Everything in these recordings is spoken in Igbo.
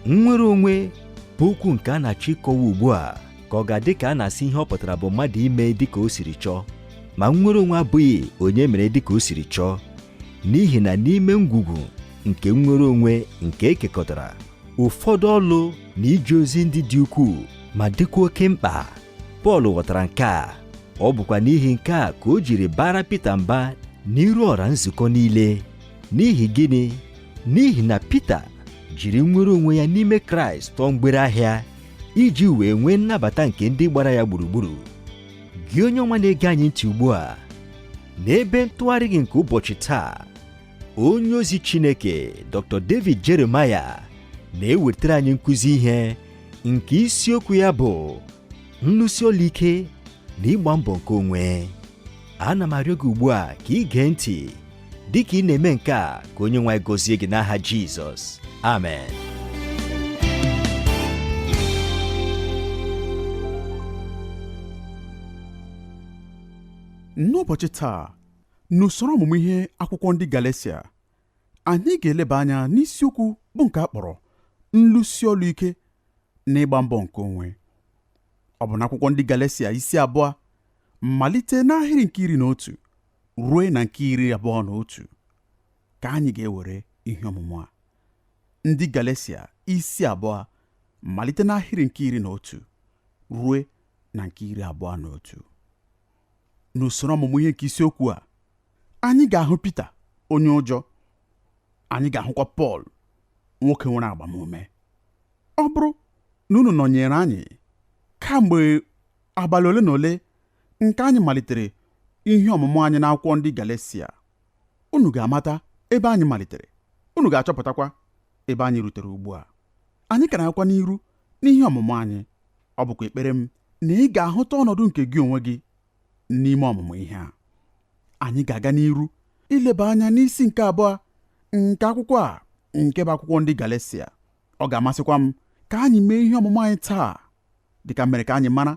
nnwere onwe bụ okwu nke a na-achọ ịkọwa ugbu a ka ọ ga-adị ka a na-asị ihe ọ pụtara bụ mmadụ ime dịka o siri chọọ ma nnwere onwe abụghị onye mere dịka o siri chọọ n'ihi na n'ime ngwugwu nke nnwere onwe nke e kekọtara ụfọdụ ọlụ na ije ozi ndị dị ukwuu ma dịkwa oke mkpa Pọl ghọtara nke a ọ bụkwa n'ihi nke a ka o jiri baara Pita mba n'iru ọra nzukọ niile n'ihi gịnị n'ihi na Pita jiri nnwere onwe ya n'ime Kraịst tụọ mgbere ahịa iji wee nwee nnabata nke ndị gbara ya gburugburu gị onye ọma na-ege anyị ntị ugbu a n'ebe ntụgharị gị nke ụbọchị taa onye ozi Chineke Dr. David Jeremiah na-ewetara anyị nkụzi ihe nke isiokwu ya bụ nlụsi ọlụ ike na ịgba mbọ nke onwe ana m arịọ gị ugbu a ka ị gee ntị dị ka ị na-eme nke a ka onye nwe anyị gọzie gị n'aha Jizọs amen n'ụbọchị taa N'usoro ọmụmụ ihe akwụkwọ ndị Galesia, anyị ga-eleba anya n'isiokwu bụ nke a kpọrọ nlụsi ọlụ ike na ịgba mbọ nke onwe. Ọ bụ n'akwụkwọ ndị Galesia isi abụọ malite n'ahịrị nke iri na otu ruo na nke iri abụọ na otu ka anyị ga-ewere ihe ọmụmụ a. Ndị Galesia isi abụọ malite n'ahịrị nke iri na otu ruo na nke iri abụọ na otu. N'usoro ọmụmụ ihe nke isiokwu a, anyị ga-ahụ Pita onye ụjọ, anyị ga-ahụkwa Pọl nwoke nwere agbamume. Ọ bụrụ na unu nọnyere anyị kamgbe abalị ole na ole nke anyị malitere ihe ọmụmụ anyị n'akwụkwọ ndị Galesia, unu ga-amata ebe anyị malitere, unu ga-achọpụtakwa ebe anyị rutere ugbu a. Anyị ka na-agakwa n'iru n'ihe ọmụmụ anyị. Ọ bụkwa ekpere m na ị ga-ahụta ọnọdụ nke gị onwe gị n'ime ọmụmụ ihe a. Anyị ga-aga n'iru ileba anya n'isi nke abụọ nke akwụkwọ a nke bụ akwụkwọ ndị Galesia. Ọ ga-amasịkwa m ka anyị mee ihe ọmụmụ anyị taa dịka m mere ka anyị mara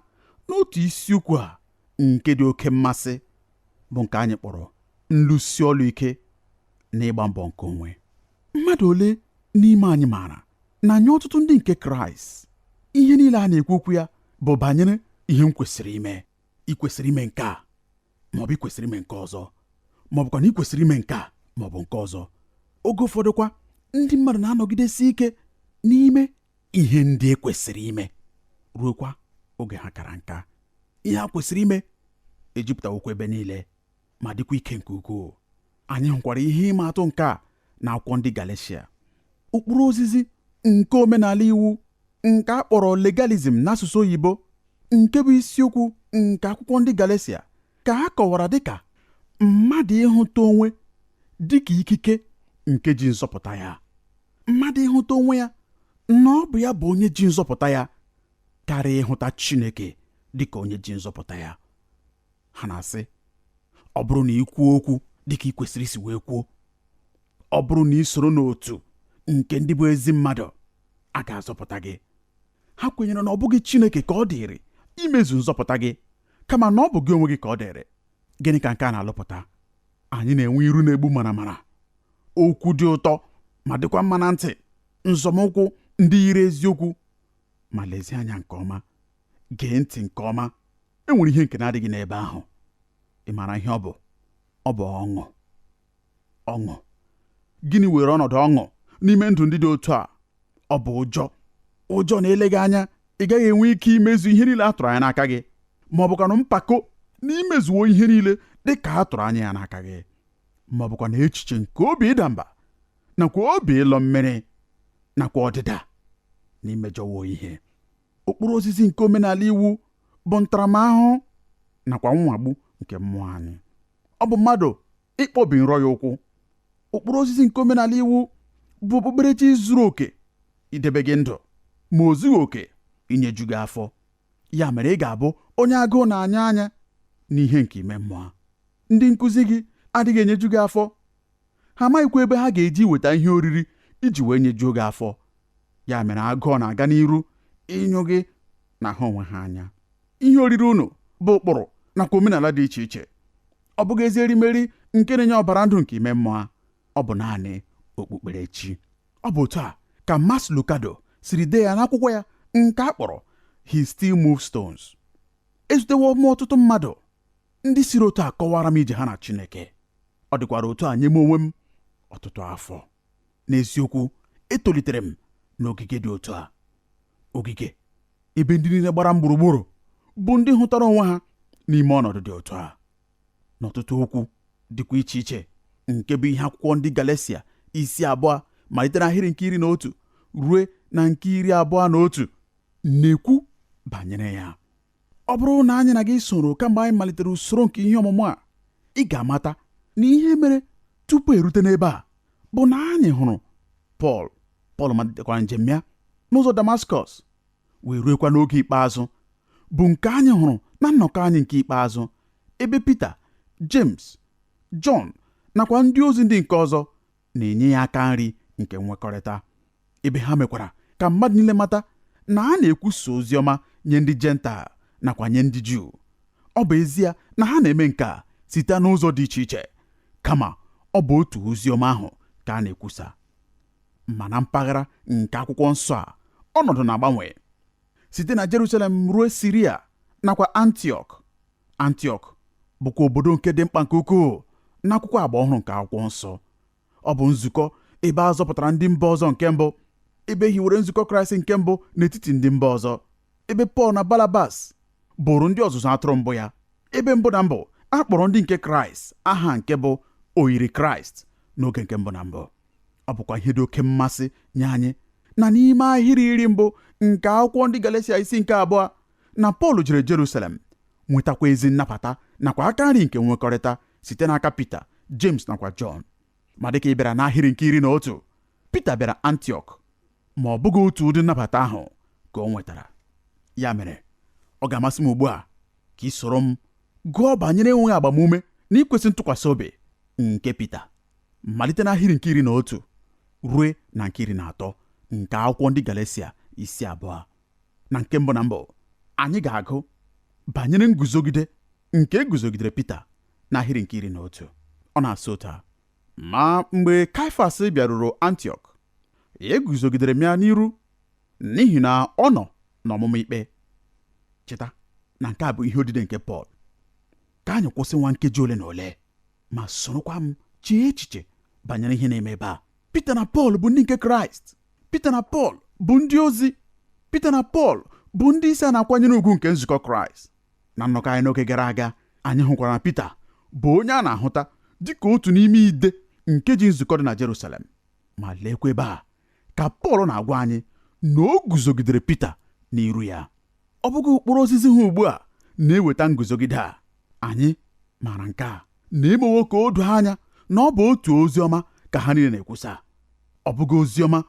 n'otu isiokwu a nke dị oke mmasị bụ nke anyị kpọrọ nlụsi ọlụ ike na ịgba mbọ nke onwe mmadụ ole n'ime anyị maara na nye ọtụtụ ndị nke kraịst ihe niile a na-ekwu okwu ya bụ banyere ihe m kwesịrị ime ị kwesịrị ime nke a maọbụ ị kwesịrị ime nke ọzọ maọbụkwa na ị kwesịrị ime nke a maọbụ nke ọzọ oge ụfọdụkwa ndị mmadụ na-anọgidesi ike n'ime ihe ndị e kwesịrị ime ruokwa oge ha kara nka ihe ha kwesịrị ime ejupụtawokwa ebe niile ma dịkwa ike nke ukwuu anyị hụkwara ihe ịma atụ nke a na akwụkwọ ndị Galeshia ụkpụrụ ozizi nke omenala iwu nke a kpọrọ legalism n'asụsụ oyibo nke bụ isiokwu nke akwụkwọ ndị Galeshia ka a kọwara dịka mmadụ ịhụta onwe dịka ikike nke ji nzọpụta ya mmadụ ịhụta onwe ya na ọ bụ ya bụ onye ji nzọpụta ya karịa ịhụta Chineke dịka onye ji nzọpụta ya ha na-asị ọ bụrụ na ị kwuo okwu dịka ị kwesịrị isi wee kwuo ọ bụrụ na ị soro n'otu nke ndị bụ ezi mmadụ a ga-azọpụta gị ha kwenyere na ọ bụghị Chineke ka ọ dịrị imezu nzọpụta gị kama na ọ bụ gị onwe gị ka ọ dịrị gịnị ka nke a na-alụpụta anyị na-enwe iru na-egbu maramara okwu dị ụtọ ma dịkwa mma na ntị nzọmụkwụ ndị yiri eziokwu ma lezie anya nke ọma gee ntị nke ọma e nwere ihe nke na-adịghị n'ebe ahụ ị maara ihe ọ bụ ọ bụ ọṅụ ọṅụ gịnị were ọnọdụ ọṅụ n'ime ndụ ndị dị otu a ọ bụ ụjọ ụjọ na eleghị anya ị gaghị enwe ike imezu ihe niile a tụrụ anya n'aka gị ma ọ bụkwanụ mpako na i mezuwo ihe niile dị ka a tụrụ anya ya n'aka gị ma ọ bụkwanụ echiche nke obi ịda mba nakwa obi ịlọ mmiri nakwa ọdịda na i mejọwo ihe ụkpụrụ ozizi nke omenala iwu bụ ntaramahụhụ nakwa nwagbu nke mmụọ anyị ọ bụ mmadụ ịkpọbi nrọ ya ụkwụ ụkpụrụ ozizi nke omenala iwu bụ okpukperechi zuru oke idebe gị ndụ ma o zughị oke inyeju gị afọ ya mere ị ga-abụ onye agụụ na-anyụ anya n'ihe nke ime mmụọ ndị nkụzi gị adịghị enyeju gị afọ ha amaghịkwa ebe ha ga-eji weta ihe oriri iji wee nyejuo gị afọ ya mere agụụ na-aga n'iru ịnyụ gị na ha onwe ha anya ihe oriri unu bụ ụkpụrụ nakwa omenala dị iche iche ọ bụghị ezi erimeri nke na-enye ọbara ndụ nke ime mmụọ ọ bụ naanị okpukperechi ọ bụ otu a ka Max Lucado siri dee ya n'akwụkwọ ya nke a kpọrọ He Still Moves Stones ezutewo m ọtụtụ mmadụ Ndị siri otu a kọwara m ije ha na Chineke. Ọ dịkwara otu a nye m onwe m ọtụtụ afọ. N'eziokwu, etolitere m n'ogige dị otu a. Ogige ebe ndị niile gbara m gburugburu bụ ndị hụtara onwe ha n'ime ọnọdụ dị otu a. N'ọtụtụ okwu dịkwa iche iche nke bụ ihe akwụkwọ ndị Galeshia isi abụọ malite n'ahịrị nke iri na otu rue na nke iri abụọ na otu na-ekwu banyere ya. ọ bụrụ na anyị na gị soro kamgbe anyị malitere usoro nke ihe ọmụmụ a ị ga-amata na ihe mere tupu erute n'ebe a bụ na anyị hụrụ Pọl Pọl malitekwara njem ya n'ụzọ Damaskọs wee ruekwa n'oge ikpeazụ bụ nke anyị hụrụ na nnọkọ anyị nke ikpeazụ ebe Pita James Jọn nakwa ndị ozi ndị nke ọzọ na-enye ya aka nri nke nwekọrịta ebe ha mekwara ka mmadụ niile mata na a na-ekwusa ozi ọma nye ndị Jentaịl nakwa nye ndị Juu ọ bụ ezie na ha na-eme nke a site n'ụzọ dị iche iche kama ọ bụ otu ozi ọma ahụ ka a na-ekwusa ma na mpaghara nke akwụkwọ nsọ a ọnọdụ na-agbanwe site na Jerusalem ruo Siria nakwa Antiọk Antiọk bụkwa obodo nke dị mkpa nke ukwuu n'akwụkwọ agba ọhụrụ nke akwụkwọ nsọ ọ bụ nzukọ ebe a zọpụtara ndị mba ọzọ nke mbụ ebe e hiwere nzukọ kraịst nke mbụ n'etiti ndị mba ọzọ ebe pọl na banabas bụrụ ndị ọzụzụ atụrụ mbụ ya ebe mbụ na mbụ a kpọrọ ndị nke kraịst aha nke bụ oyiri kraịst n'oge nke mbụ na mbụ ọ bụkwa ihe dị oke mmasị nye anyị na n'ime ahịrị iri mbụ nke akwụkwọ ndị galesia isi nke abụọ na Pọl jere Jerusalem nwetakwa ezi nnabata nakwa aka nri nke nwekọrịta site n'aka Pita James nakwa Jọn ma dịka ị bịara n'ahịrị nke iri na otu Pita bịara Antiọk ma ọ bụghị otu ụdị nnabata ahụ ka o nwetara ya mere ọ ga-amasị m ugbu a ka i soro m gụọ banyere enweghị agbamume na ikwesị ntụkwasị obi nke Pita malite n'ahịrị nke iri na otu rue na nke iri na atọ nke akwụkwọ ndị Galatia isi abụọ na nke mbụ na mbụ anyị ga-agụ banyere nguzogide nke e guzogidere Pita n'ahịrị nke iri na otu ọ na-asị otu a ma mgbe Kaifas bịaruru Antiọk eguzogidere m ya n'iru n'ihi na ọ nọ n'ọmụma ikpe cheta na nke a bụ ihe odide nke Pọl ka anyị kwụsị nwa nkeji ole na ole ma sorokwa m chee echiche banyere ihe na-eme ebe a Pita na Pọl bụ ndị nke Kraịst Pita na Pọl bụ ndị ozi Pita na Pọl bụ ndị isi a na-akwanyere ugwu nke nzukọ Kraịst na nnọkọ anyị n'oge gara aga anyị hụkwara na Pita bụ onye a na-ahụta dị ka otu n'ime ide nke ji nzukọ dị na Jerusalem ma leekwa ebe a ka Pọl na-agwa anyị na o guzogidere Pita n'iru ya ọ bụghị ụkpụrụ ozizi ha ugbu a na-eweta nguzogide a anyị maara nke a na e mewo ka o doo anya na ọ bụ otu ozi ọma ka ha niile na-ekwusa ọ bụghị ozi ọma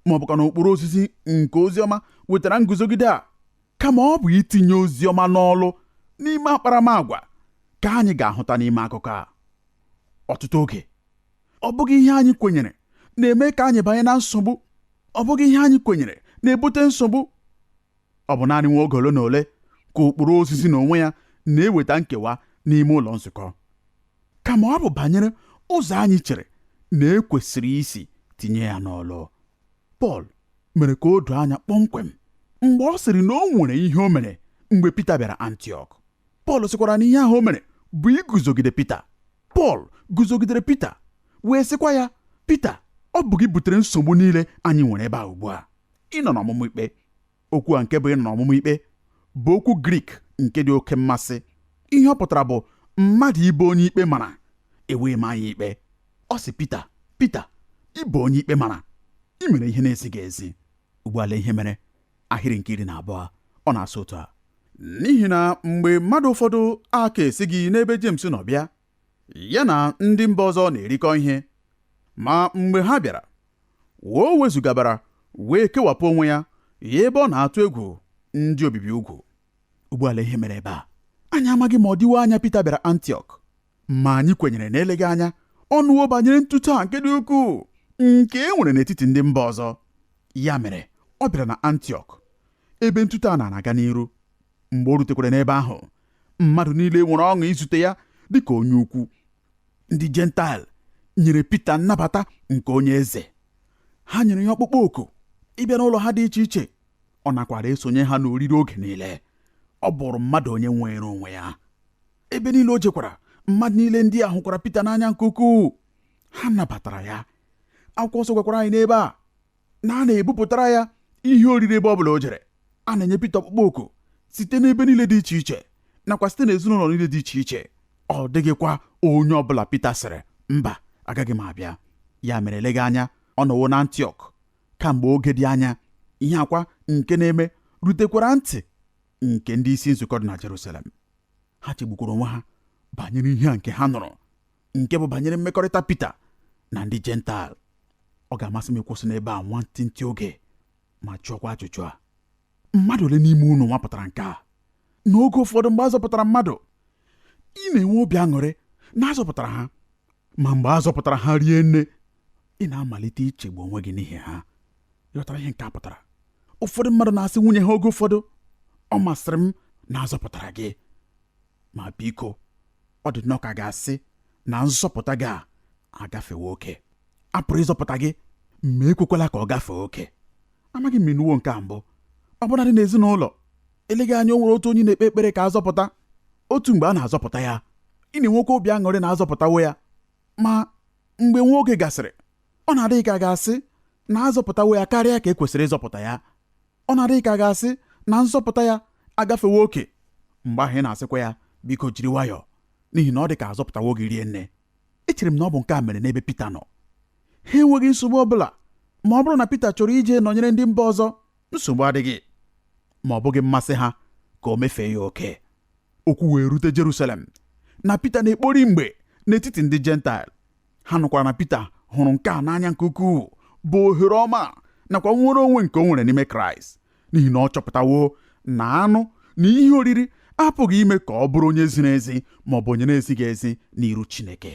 ma ọ bụkwanụ ụkpụrụ ozizi nke ozi ọma wetara nguzogide a kama ọ bụ itinye ozi ọma n'ọlụ n'ime akparamagwa ka anyị ga-ahụta n'ime akụkọ a ọtụtụ oge ọ bụghị ihe anyị kwenyere na-eme ka anyị banye na nsogbu ọ bụghị ihe anyị kwenyere na-ebute nsogbu ọ bụ naanị nwa oge ole na ole ka ụkpụrụ ozizi n'onwe ya na-eweta nkewa n'ime ụlọ nzukọ kama ọ bụ banyere ụzọ anyị chere na e kwesịrị isi tinye ya n'ọlụ Pọl mere ka o doo anya kpọmkwem mgbe ọ sịrị na o nwere ihe o mere mgbe Pita bịara Antiọk Pọl sịkwara na ihe ahụ o mere bụ iguzogide Pita Pọl guzogidere Pita wee sịkwa ya Pita ọ bụ gị butere nsogbu niile anyị nwere ebe a ugbu a ịnọ n'ọmụma ikpe okwu a nke bụ ịnọ n'ọmụma ikpe bụ okwu grik nke dị oke mmasị ihe ọ pụtara bụ mmadụ ịbụ onye ikpe mara e wee maa ya ikpe ọ sị Pita Pita ị bụ onye ikpe mara i mere ihe na-ezighị ezi ugbu a lee ihe mere ahịrị nke iri na abụọ ọ na-asụ otu a n'ihi na mgbe mmadụ ụfọdụ aka esighị n'ebe James nọ bịa ya na ndị mba ọzọ na-erikọ ihe ma mgbe ha bịara o wezụgabara wee kewapụ onwe ya ya ebe ọ na-atụ egwu ndị obibi ugwu ugbu a lee ihe mere ebe a anyị amaghị ma ọ dịwo anya Pita bịara Antiọk ma anyị kwenyere na eleghị anya ọ nụwo banyere ntute a nke dị ukwuu nke e nwere n'etiti ndị mba ọzọ ya mere ọ bịara na Antiọk ebe ntute a na-aga n'iru mgbe o rutekwara n'ebe ahụ mmadụ niile nwere ọṅụ izute ya dị ka onye ukwu ndị jentaịl nyere Pita nnabata nke onye eze ha nyere ya ọkpụkpọ oku ịbịa n'ụlọ ha dị iche iche ọ nakwara esonye ha n'oriri oge niile ọ bụrụ mmadụ onye nwere onwe ya ebe niile o jekwara mmadụ niile ndị a hụkwara Pita n'anya nke ukwuu ha nabatara ya akwụkwọ nsọ gwakwara anyị n'ebe a na a na-ebupụtara ya ihe oriri ebe ọ bụla o jere a na-enye Pita ọkpụkpọ oku site n'ebe niile dị iche iche nakwa site n'ezinụlọ niile dị iche iche ọ dịghịkwa onye ọ bụla Pita sịrị mba agaghị m abịa ya mere eleghị anya ọ nọwo na Antiọk kamgbe oge dị anya ihe a kwa nke na-eme rutekwara ntị nke ndị isi nzukọ dị na Jerusalem ha chegbukwara onwe ha banyere ihe a nke ha nụrụ nke bụ banyere mmekọrịta Pita na ndị Jentaịl ọ ga-amasị m ịkwụsị n'ebe a nwantịntị oge ma jụọkwa ajụjụ a mmadụ ole n'ime unu nwapụtara nke a n'oge ụfọdụ mgbe a zọpụtara mmadụ ị na-enwe obi aṅụrị na a zọpụtara ha ma mgbe a zọpụtara ha rie nne ị na-amalite ichegbu onwe gị n'ihi ha ị ghọtara ihe nke a pụtara ụfọdụ mmadụ na-asị nwunye ha oge ụfọdụ ọ masịrị m na a zọpụtara gị ma biko ọ dị nnọọ ka a ga-asị na nzọpụta gị a agafewo oke a pụrụ ịzọpụta gị ma ekwekwala ka ọ gafee oke amaghị m ma ị nụwo nke a mbụ ọbụnadị n'ezinụlọ eleghị anya o nwere otu onye na-ekpe ekpere ka a zọpụta otu mgbe a na-azọpụta ya ị na-enwekwa obi aṅụrị na a zọpụtawo ya ma mgbe nwa oge gasịrị ọ na-adị gị ka a ga-asị na a zọpụtawo ya karịa ka e kwesịrị ịzọpụta ya ọ na-adị gị ka a ga-asị na nzọpụta ya agafewo oke mgbe ahụ ị na-asịkwa ya biko jiri nwayọọ n'ihi na ọ dị ka a zọpụtawo gị rie nne echere m na ọ bụ nke a mere n'ebe Pita nọ ha enweghị nsogbu ọ bụla ma ọ bụrụ na Pita chọrọ ije nọnyere ndị mba ọzọ nsogbu adịghị ma ọ bụghị mmasị ha ka o mefee ya oke okwu wee rute Jerusalem na Pita na-ekpori mgbe n'etiti ndị Jentaịl ha nụkwara na Pita hụrụ nke a n'anya nke ukwuu bụ ohere ọma a nakwa nnwere onwe nke o nwere n'ime Kraịst n'ihi na ọ chọpụtawo na anụ na ihe oriri apụghị ime ka ọ bụrụ onye ziri ezi ma ọ bụ onye na-ezighị ezi n'iru Chineke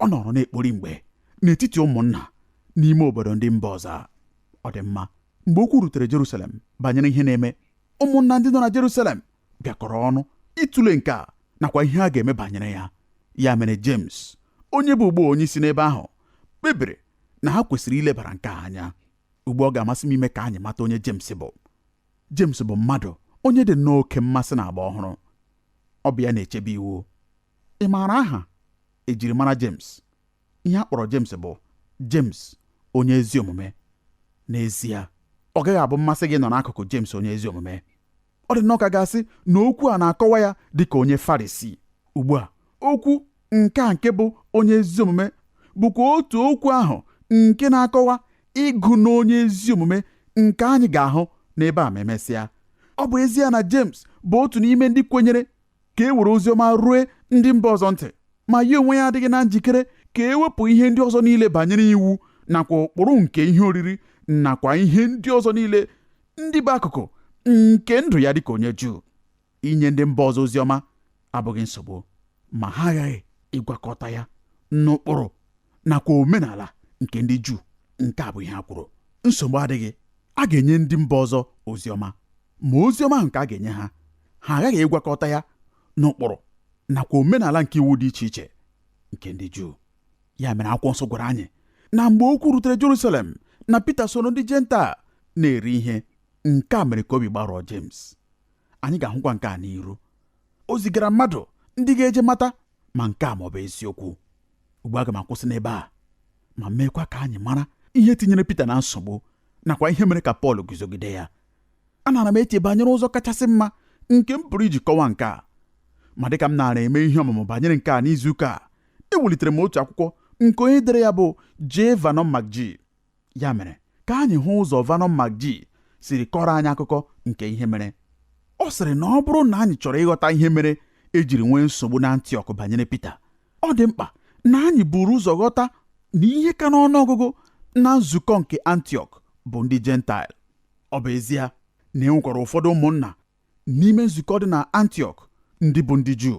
ọ nọrọ na-ekpori mgbe n'etiti ụmụnna n'ime obodo ndị mba ọzọ ọ dị mma mgbe okwu rutere Jerusalem banyere ihe na-eme ụmụnna ndị nọ na Jerusalem bịakọrọ ọnụ ịtụle nke a nakwa ihe a ga-eme banyere ya ya mere James onye bụ ugbu a onye isi n'ebe ahụ kpebiri na ha kwesịrị ilebara nke a anya ugbu a ọ ga-amasị m ime ka anyị mata onye James bụ James bụ mmadụ onye dị nnọọ oke mmasị na agba ọhụrụ ọ bụ ya na-echebe iwu ị maara aha e jiri mara James ihe a kpọrọ James bụ James onye ezi omume n'ezie ọ gaghị abụ mmasị gị ịnọ n'akụkụ James onye ezi omume ọ dị nnọọ ka a ga-asị na okwu a na-akọwa ya dị ka onye Farisii ugbu a okwu nke a nke bụ onye ezi omume bụkwa otu okwu ahụ nke na-akọwa ịgụ n'onye ezi omume nke anyị ga-ahụ n'ebe a ma emesịa ọ bụ ezie na James bụ otu n'ime ndị kwenyere ka e were ozi ọma rue ndị mba ọzọ ntị ma ya onwe ya adịghị na njikere ka e wepụ ihe ndị ọzọ niile banyere iwu nakwa ụkpụrụ nke ihe oriri nakwa ihe ndị ọzọ niile ndị bụ akụkụ nke ndụ ya dịka onye Juu inye ndị mba ọzọ ozi ọma abụghị nsogbu ma ha aghaghị ịgwakọta ya n'ụkpụrụ nakwa omenala nke ndị Juu nke a bụ ihe a kwuru nsogbu adịghị a ga-enye ndị mba ọzọ ozi ọma ma ozi ọma ahụ nke a ga-enye ha ha aghaghị ịgwakọta ya n'ụkpụrụ nakwa omenala nke iwu dị iche iche nke ndị Juu ya mere akwụkwọ nsọ gwara anyị na mgbe okwu rutere Jerusalem na Pita soro ndị Jentaịl na-eri ihe nke a mere ka obi gbarụọ James anyị ga-ahụkwa nke a n'iru o zigara mmadụ ndị ga-eje mata ma nke a ma ọ bụ eziokwu ugbu a aga m akwụsị n'ebe a ma meekwa ka anyị mara ihe tinyere Pita na nsogbu nakwa ihe mere ka Pọl guzogide ya anaara m eche banyere ụzọ kachasị mma nke m pụrụ iji kọwa nke a ma dịka m naara eme ihe ọmụmụ banyere nke a n'izuụka a ewelitere m otu akwụkwọ nke onye dere ya bụ J. Vernon McGee Ya mere, ka anyị hụ ụzọ Vernon McGee siri kọrọ anyị akụkọ nke ihe mere. Ọ sịrị na ọ bụrụ na anyị chọrọ ịghọta ihe mere e jiri nwee nsogbu na Antiọk banyere Pita, ọ dị mkpa na anyị buru ụzọ ghọta na ihe ka n'ọnụ ọgụgụ na nzukọ nke Antiọk bụ ndị Jentaịl. Ọ bụ ezie na e nwekwara ụfọdụ ụmụnna n'ime nzukọ dị na Antiọk ndị bụ ndị Juu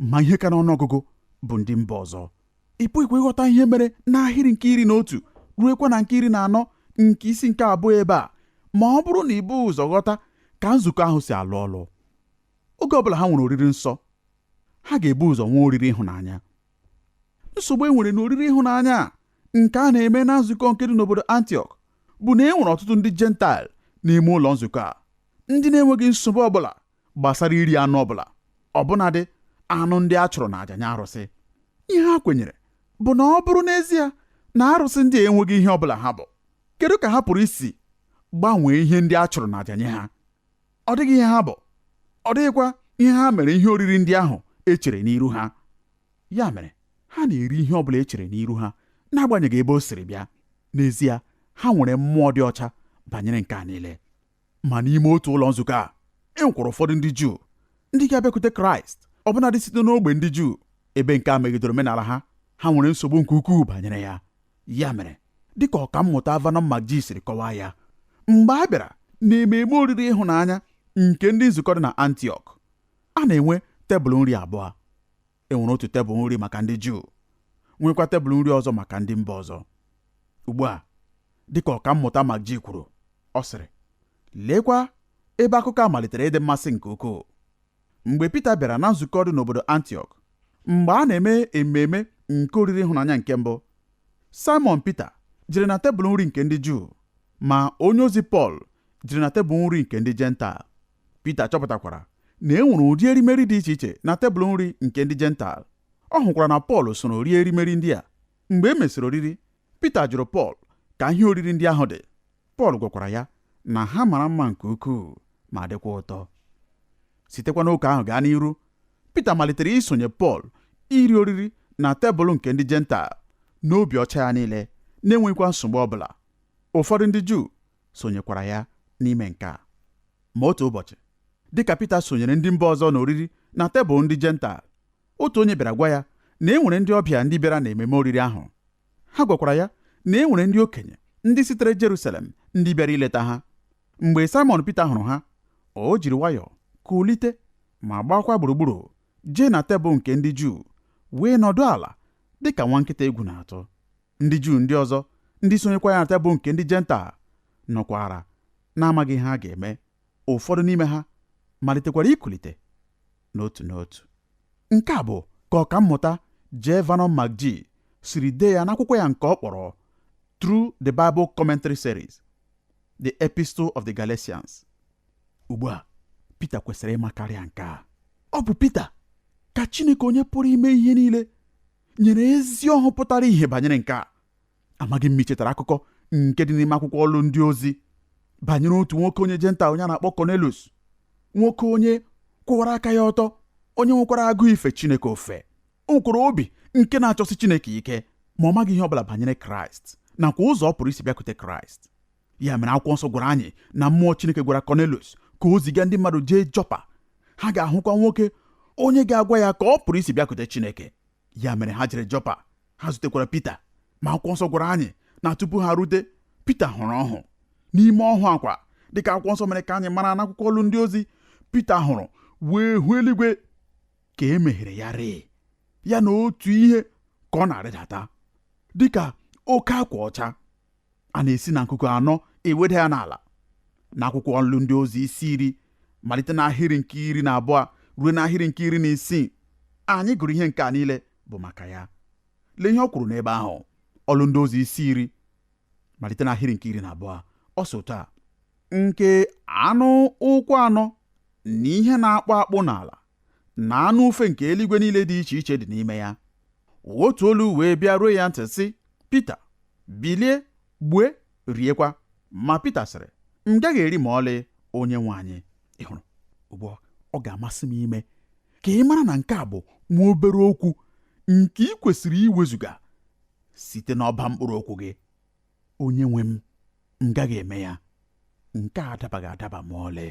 ma ihe ka n'ọnụọgụgụ bụ ndị mba ọzọ ị pụghịkwa ịghọta ihe mere n'ahịrị nke iri na otu ruekwa na nke iri na anọ nke isi nke abụọ ebe a ma ọ bụrụ na i bughị ụzọ ghọta ka nzukọ ahụ si alụ ọlụ oge ọbụla ha nwere oriri nsọ ha ga-ebu ụzọ nwee oriri ịhụnanya nsogbu e nwere na oriri ịhụnanya a nke a na-eme na nzukọ nke dị n'obodo antiok bụ na e nwere ọtụtụ ndị Jentaịl n'ime ụlọ nzukọ a ndị na-enweghị nsogbu ọbụla gbasara iri anụ ọbụla ọbụnadị anụ ndị a chụrụ n'aja nye arụsị ihe ha kwenyere bụ na ọ bụrụ n'ezie na arụsị ndị a enweghị ihe ọbụla ha bụ kedu ka ha pụrụ isi gbanwee ihe ndị a chụrụ n'aja nye ha ọ dịghị ihe ha bụ ọ dịghịkwa ihe ha mere ihe oriri ndị ahụ e chere n'iru ha ya mere ha na-eri ihe ọbụla e chere n'iru ha n'agbanyeghị ebe o siri bịa n'ezie ha nwere mmụọ dị ọcha banyere nke a niile ma n'ime otu ụlọ nzukọ a e nwekwara ụfọdụ ndị Juu ndị ga-abịakwute Kraịst ọbụnadị site n'ogbe ndị Juu ebe nke a megidere omenala ha ha nwere nsogbu nke ukwuu banyere ya ya mere dịka ọka mmụta Vernon McGee siri kọwaa ya mgbe a bịara n'ememe oriri ịhụnanya nke ndị nzukọ dị na Antiọk a na-enwe tebụl nri abụọ e nwere otu tebụl nri maka ndị Juu nwekwa tebụl nri ọzọ maka ndị mba ọzọ ugbu a dịka ọka mmụta McGee kwuru ọ sịrị leekwa ebe akụkọ a malitere ịdị mmasị nke ukwuu mgbe Pita bịara na nzukọ dị n'obodo Antiọk mgbe a na-eme ememe nke oriri ịhụnanya nke mbụ Simon Pita jere na tebụl nri nke ndị Juu ma onye ozi Pọl jere na tebụl nri nke ndị Jentaịl Pita chọpụtakwara na e nwere ụdị erimeri dị iche iche na tebụl nri nke ndị Jentaịl. Ọ hụkwara na Pọl soro rie erimeri ndị a. Mgbe e mesịrị oriri, Pita jụrụ Pọl ka ihe oriri ndị ahụ dị. Pọl gwakwara ya na ha mara mma nke ukwuu ma dịkwa ụtọ. Sitekwa n'oge ahụ gaa n'iru, Pita malitere isonye Pọl iri oriri na tebụl nke ndị Jentaịl n'obi ọcha ya niile, na-enweghịkwa nsogbu ọ bụla. Ụfọdụ ndị Juu sonyekwara ya n'ime nke a. Ma otu ụbọchị, dị ka Pita sonyere ndị mba ọzọ n'oriri na tebụl ndị Jentaịl, otu onye bịara gwa ya na e nwere ndị ọbịa ndị bịara n'ememe oriri ahụ. Ha gwakwara ya na e nwere ndị okenye ndị sitere Jerusalem ndị bịara ileta ha. Mgbe Saịmọn Pita hụrụ ha, o jiri nwayọọ kulite ma gbaakwa gburugburu jee na tebụl nke ndị Juu wee nọdụ ala dị ka nwa nkịta egwu na-atụ. ndị Juu ndị ọzọ ndị sonyekwa ya na tebụl nke ndị Jentaịl nọkwara na-amaghị ihe ha ga-eme ụfọdụ n'ime ha malitekwara ikulite n'otu n'otu nke a bụ ka ọkammụta J Vernon McGee siri dee ya n'akwụkwọ ya nke ọ kpọrọ Through the Bible Commentary Series The Epistle of the Galatians ugbu a Pita kwesịrị ịma karịa nke a ọ bụ Pita ka Chineke onye pụrụ ime ihe niile nyere ezi ọhụ pụtara ihe banyere nke a amaghị m ma i chetara akụkọ nke dị n'ime akwụkwọ ọlụ ndị ozi banyere otu nwoke onye Jentaịl onye a na-akpọ Cornelius nwoke onye kwụwara aka ya ọtọ onye nwekwara agụụ ife Chineke ofufe o nwekwara obi nke na-achọsi Chineke ike ma ọ maghị ihe ọ bụla banyere Kraịst nakwa ụzọ ọ pụrụ isi bịakwute Kraịst ya mere akwụkwọ nsọ gwara anyị na mmụọ Chineke gwara Kọnelius ka o ziga ndị mmadụ jee Jọpa ha ga-ahụkwa nwoke onye ga-agwa ya ka ọ pụrụ isi bịakute Chineke ya mere ha jere Jọpa ha zutekwara Pita ma akwụkwọ nsọ gwara anyị na tupu ha rute Pita hụrụ ọhụ n'ime ọhụ a kwa dịka akwụkwọ nsọ mere ka anyị mara n'akwụkwọ ọlụ ndị ozi Pita hụrụ wee hụ eluigwe ka e meghere ya rịị ya na otu ihe ka ọ na-arịdata dịka oke akwa ọcha a na-esi na nkuku anọ eweda ya n'ala n'akwụkwọ ọlụ ndị ozi isi iri malite n'ahịrị nke iri na abụọ ruo n'ahịrị nke iri na isii anyị gụrụ ihe nke a niile bụ maka ya lee ihe o kwuru n'ebe ahụ ọlụ ndị ozi isi iri malite n'ahịrị nke iri na abụọ ọ sị otu a nke anụ ụkwụ anọ na ihe na-akpụ akpụ n'ala na anụ ufe nke eluigwe niile dị iche iche dị n'ime ya otu olu wee bịa ruo ya ntị sị Pita bilie gbue riekwa ma Pita sịrị m gaghị eri ma ọlị onye nwe anyị ị hụrụ ugbu a ọ ga-amasị m ime ka ị mara na nke a bụ nwa obere okwu nke i kwesịrị iwezuga site n'ọba mkpụrụ okwu gị onye nwe m m gaghị eme ya nke a adabaghị adaba ma ọlị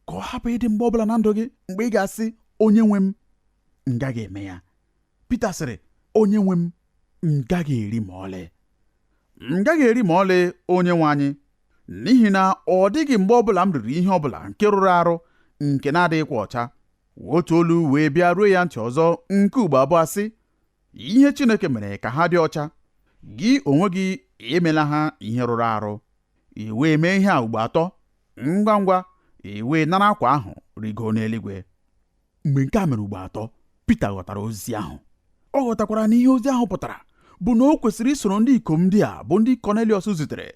ka ọ hapụ ịdị mgbe ọbụla na ndụ gị mgbe ị ga-asị onye nwe m m gaghị eme ya Pita sịrị onye nwe m m gaghị eri ma ọlị m gaghị eri ma ọlị onye nwe anyị n'ihi na ọ dịghị mgbe ọbụla m riri ihe ọbụla nke rụrụ arụ nke na-adịghịkwa ọcha otu olu wee bịa ruo ya ntị ọzọ nke ugbo abụọ sị ihe Chineke mere ka ha dị ọcha gị onwe gị emela ha ihe rụrụ arụ i wee mee ihe a ugbo atọ ngwa ngwa i wee nara akwa ahụ rigoo n'eluigwe mgbe nke a mere ugbo atọ Pita ghọtara ozi ahụ ọ ghọtakwara na ihe ozi ahụ pụtara bụ na o kwesịrị isoro ndị ikom ndị a bụ ndị Kọneliọs zitere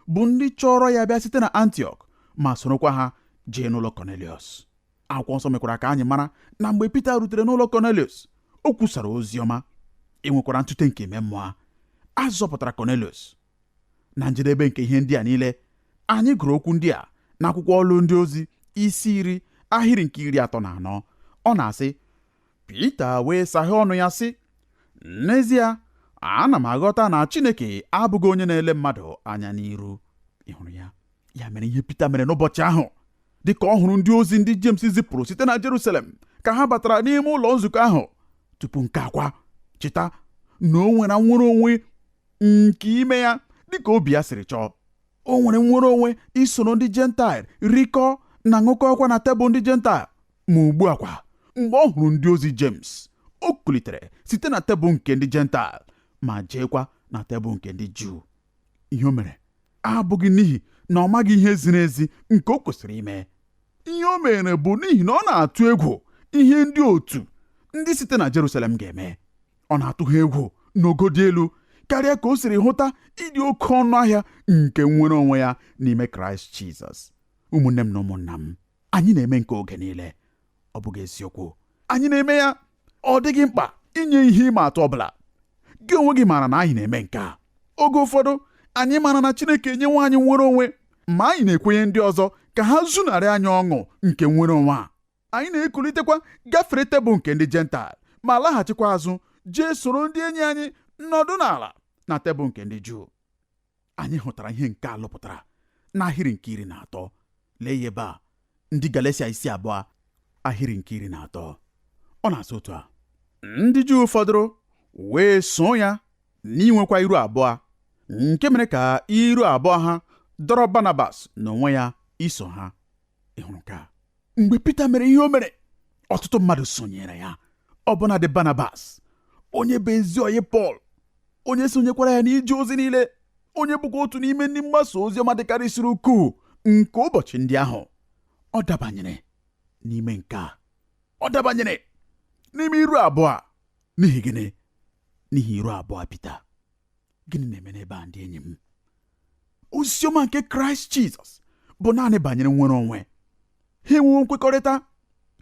bụ ndị chọrọ ya bịa site na Antiọk ma sorokwa ha jee n'ụlọ Kọneliọs akwụkwọ nsọ mekwara ka anyị mara na mgbe Pita rutere n'ụlọ Kọneliọs o kwusara ozi ọma e nwekwara ntute nke ime mmụọ a zọpụtara Kọneliọs na njedebe nke ihe ndị a niile anyị gụrụ okwu ndị a n'akwụkwọ ọlụ ndị ozi isi iri ahịrị nke iri atọ na anọ ọ na-asị Pita wee saghee ọnụ ya sị n'ezie ana m aghọta na Chineke abụghị onye na-ele mmadụ anya n'iru ị hụrụ ya ya mere ihe Pita mere n'ụbọchị ahụ dị ka ọ hụrụ ndị ozi ndị Jems zipụrụ site na Jerusalem ka ha batara n'ime ụlọ nzukọ ahụ tupu nke a kwa cheta na o nwere nnwere onwe nke ime ya dịka obi ya siri chọọ o nwere nnwere onwe isoro ndị jentaịl rikọọ na ṅụkọọkwa na tebụl ndị jentaịl ma ugbu a kwa mgbe ọ hụrụ ndị ozi Jems o kulitere site na tebụl nke ndị jentaịl ma jeekwa na tebụl nke ndị Juu ihe o mere abụghị n'ihi na ọ maghị ihe ziri ezi nke o kwesịrị ime ihe o mere bụ n'ihi na ọ na-atụ egwu ihe ndị otu ndị site na Jerusalem ga-eme ọ na-atụ ha egwu n'ogo dị elu karịa ka o siri hụta ịdị oke ọnụ ahịa nke nnwere onwe ya n'ime kraịst jizọs ụmụnne m na ụmụnna m anyị na-eme nke oge niile ọ bụghị eziokwu anyị na-eme ya ọ dịghị mkpa inye ihe ịma atụ ọbụla gị onwe gị maara na anyị na-eme nke a oge ụfọdụ anyị maara na chineke enyewo anyị nnwere onwe ma anyị na-ekwenye ndị ọzọ ka ha zunarị anyị ọṅụ nke nnwere onwe a anyị na-ekulitekwa gafere tebụl nke ndị Jentaịl ma laghachikwa azụ jee soro ndị enyi anyị nọdụ n'ala na tebụl nke ndị Juu anyị hụtara ihe nke a lụpụtara n'ahịrị nke iri na atọ lee ya ebe a ndị Galatia isi abụọ ahịrị nke iri na atọ ọ na-asị otu a ndị Juu fọdụrụ wee so ya n'inwekwa iru abụọ nke mere ka iru abụọ ha dọrọ Barnabas n'onwe ya iso ha ị hụrụ nke a mgbe Pita mere ihe o mere ọtụtụ mmadụ sonyere ya ọbụnadị Barnabas onye bụ ezi ọyị Pọl onye sonyekwara ya n'ije ozi niile onye bụkwa otu n'ime ndị mgbasa ozi ọma dịkarịsịrị ukwuu nke ụbọchị ndị ahụ ọ dabanyere n'ime nke a ọ dabanyere n'ime iru abụọ n'ihi gịnị n'ihi iru abụọ Pita gịnị na-eme n'ebe a ndị enyi m oziọma nke kraịst jizọs bụ naanị banyere nnwere onwe ha enwewo nkwekọrịta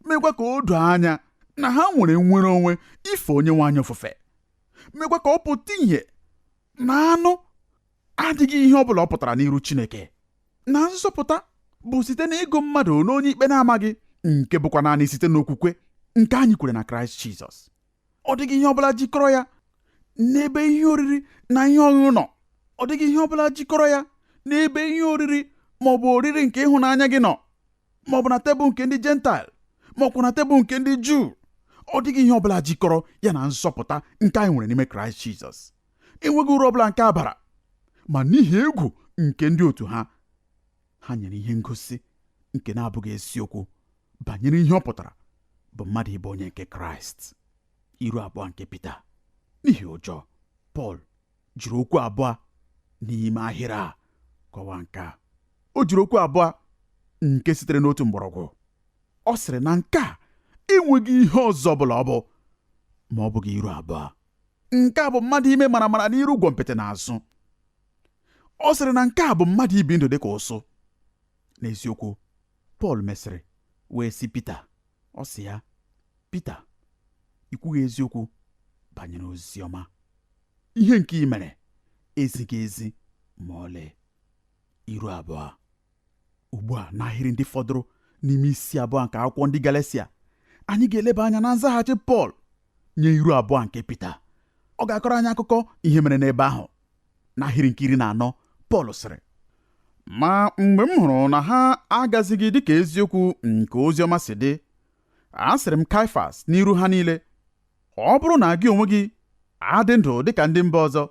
mekwa ka o doo anya na ha nwere nnwere onwe ife onyenwe anyị ofufe mekwa ka ọ pụta ihe na anụ adịghị ihe ọ bụla ọ pụtara n'iru chineke na nzọpụta bụ site na ịgụ mmadụ n'onye ikpe na-amaghị nke bụkwa naanị site n'okwukwe nke anyị kwere na kraịst jizọs ọ dịghị ihe ọbụla jikọrọ ya n'ebe ihe oriri na ihe ọṅụṅụ nọ ọ dịghị ihe ọbụla jikọrọ ya n'ebe ihe oriri ma ọ bụ oriri nke ịhụnanya gị nọ ma ọ bụ na tebụl nke ndị jentaịl ma ọ bụ na tebụl nke ndị juu ọ dịghị ihe ọbụla jikọrọ ya na nzọpụta nke anyị nwere n'ime kraịst jizọs enweghị uru ọbụla nke a bara ma n'ihi egwu nke ndị otu ha ha nyere ihe ngosi nke na-abụghị eziokwu banyere ihe ọ pụtara bụ mmadụ ịbụ onye nke kraịst iru abụọ nke pita n'ihi ụjọ pọl jiri okwu abụọ n'ime ahịrị a kọwaa nke a o jiri okwu abụọ nke sitere n'otu mgbọrọgwụ ọ sịrị na nke a enweghị ihe ọzọ ọbụla ọ bụ ma ọ bụghị iru abụọ nke a bụ mmadụ ime maramara n'iru gwọmpịtị n'azụ ọ sịrị na nke a bụ mmadụ ibi ndụ dị ka ụsụ n'eziokwu Pọl mesịrị wee sị Pita ọ sị ya Pita i kwughị eziokwu banyere ozi ọma ihe nke i mere ezighị ezi ma ọlị iru abụọ ugbu a n'ahịrị ndị fọdụrụ n'ime isi abụọ nke akwụkwọ ndị Galatia anyị ga-eleba anya na nzaghachi Pọl nye iru abụọ nke Pita ọ ga-akọrọ anyị akụkọ ihe mere n'ebe ahụ n'ahịrị nke iri na anọ Pọl sịrị ma mgbe m hụrụ na ha agazighị dịka eziokwu nke ozi ọma si dị asịrị m Kaịfas n'iru ha niile ọ bụrụ na gị onwe gị adị ndụ dịka ndị mba ọzọ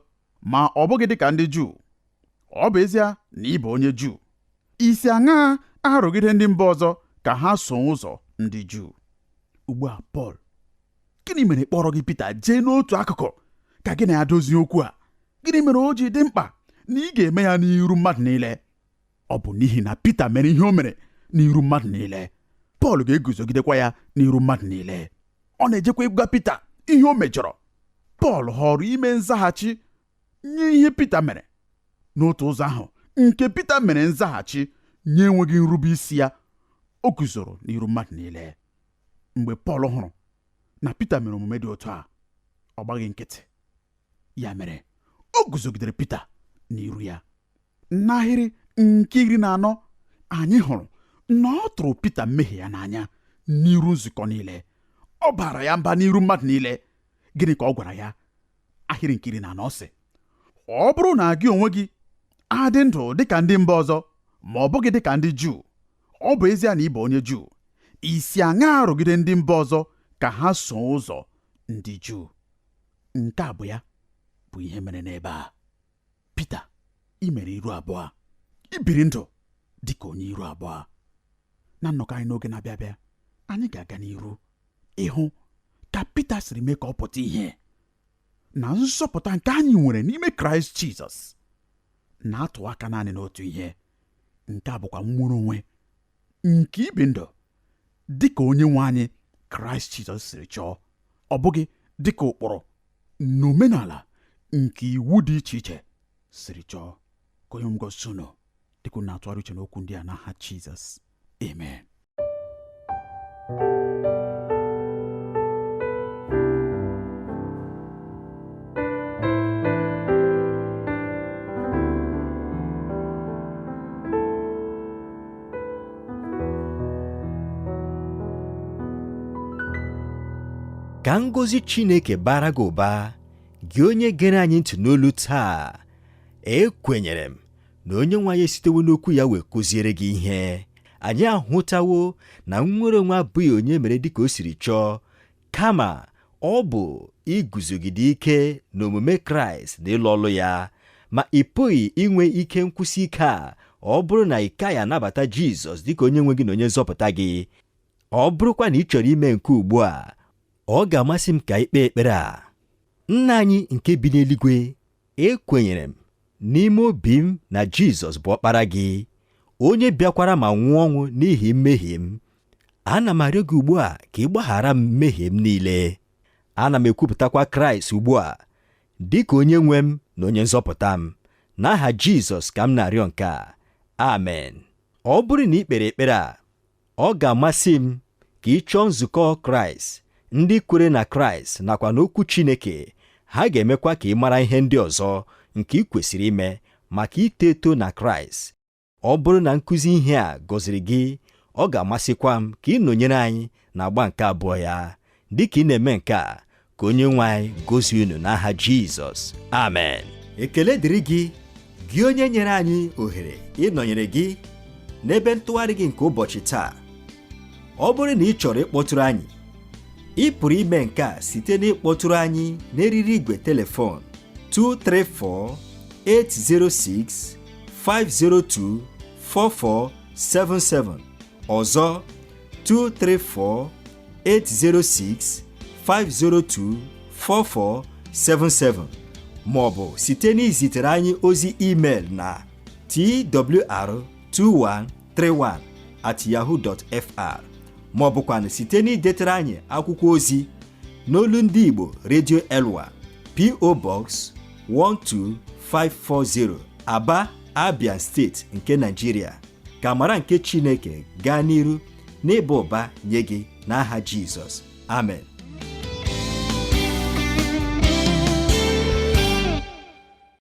ma ọ bụghị dịka ndị Juu ọ bụ ezie na ị bụ onye Juu i si aṅaa arụgide ndị mba ọzọ ka ha soo ụzọ ndị Juu ugbu a Pọl gịnị mere kpọrọghị Pita jee n'otu akụkụ ka gị na ya dozie okwu a gịnị mere o ji dị mkpa na ị ga-eme ya n'iru mmadụ niile ọ bụ n'ihi na Pita mere ihe o mere n'iru mmadụ niile Pọl ga-eguzogidekwa ya n'iru mmadụ niile ọ na-ejekwa ịgwa Pita ihe o mejọrọ Pọl họrọ ime nzaghachi nye ihe Pita mere n'otu ụzọ ahụ nke Pita mere nzaghachi nye enweghị nrube isi ya o guzoro n'iru mmadụ niile mgbe pọl hụrụ na pita mere omume dị otu a ọ gbaghị nkịtị ya mere o guzogidere pita n'iru ya n'ahịrị nke iri na anọ anyị hụrụ na ọ tụrụ pita mmehie ya n'anya n'iru nzukọ niile ọ baara ya mba n'iru mmadụ niile gịnị ka ọ gwara ya ahịrị nke iri na anọ sị ọ bụrụ na gị onwe gị adị ndụ dịka ndị mba ọzọ ma ọ bụghị dịka ndị Juu Ọ bụ ezie na ị bụ onye Juu, i si aṅaa arụgide ndị mba ọzọ ka ha soo ụzọ ndị Juu? Nke a bụ ya bụ ihe mere n'ebe a. Pita, i mere iru abụọ. I biri ndụ dị ka onye iru abụọ. Na nnọkọ anyị n'oge na-abịa abịa, anyị ga-aga n'iru ịhụ ka Pita siri mee ka ọ pụta ihe na nzọpụta nke anyị nwere n'ime Kraịst Jizọs na-atụ aka naanị n'otu ihe nke a bụkwa nnwere onwe nke ibi ndụ dị ka onye nwe anyị kraịst jizọs siri chọọ ọ bụghị dị ka ụkpụrụ na omenala nke iwu dị iche iche siri chọọ ka onye nwe m gọzie unu dịka unu na-atụgharị uche n'okwu ndị a n'aha jizọs amen ka ngọzi Chineke baara gị ụba gị onye gere anyị ntị n'olu taa ekwenyere m na onye nwe anyị esitewo n'okwu ya wee kụziere gị ihe anyị ahụtawo na nnwere onwe abụghị onye mere dịka o siri chọọ kama ọ bụ iguzogide ike n'omume kraịst na ịlụ ọlụ ya ma ị pụghị inwe ike nkwụsi ike a ọ bụrụ na ị kaghị anabata jizọs dịka onye nwe gị na onye nzọpụta gị ọ bụrụkwa na ị chọrọ ime nke ugbu a ọ ga-amasị m ka i kpee ekpere a nna anyị nke bi n'eluigwe Ekwenyere m n'ime obi m na Jizọs bụ ọkpara gị, onye bịakwara ma nwụọ ọnwụ n'ihi mmehie m. Ana m arịọ gị ugbu a ka ị gbaghara m mmehie m niile. Ana m ekwupụtakwa Kraịst ugbu a dị ka onye nwe m na onye nzọpụta m. N'aha Jizọs ka m na-arịọ nke a. Amen. Ọ bụrụ na i kpere ekpere a, Ọ ga-amasị m ka ị chọọ nzukọ Kraịst, ndị kwere na Kraịst nakwa n'Okwu Chineke, ha ga-emekwa ka ị mara ihe ndị ọzọ nke i kwesịrị ime maka ito eto na Kraịst. Ọ bụrụ na nkụzi ihe a gọziri gị, ọ ga-amasịkwa m ka ị nọnyere anyị n'agba nke abụọ ya. Dị ka ị na-eme nke a, ka onye nwe anyị gọzie unu n'aha jizọs amen ekele dịrị gị gị onye nyere anyị ohere ịnọnyere gị n'ebe ntụgharị gị nke ụbọchị taa ọ bụrụ na ị chọrọ ịkpọtụrụ anyị ị pụrụ ime nke a site n'ịkpọtụrụ anyị n'eriri igwe telefon 234 806 502 4477 ọzọ 234 806 502 4477 ma ọ bụ site n'izitere anyị ozi email na twr2131 at yahoo dot fr ma ọ bụkwanụ site n'idetere anyị akwụkwọ ozi n'olu ndị Igbo Radio Elwa PO Box 12540 Aba Abia State nke Nigeria ka amara nke Chineke gaa n'iru n'ịba ụba nye gị n'aha Jizọs amen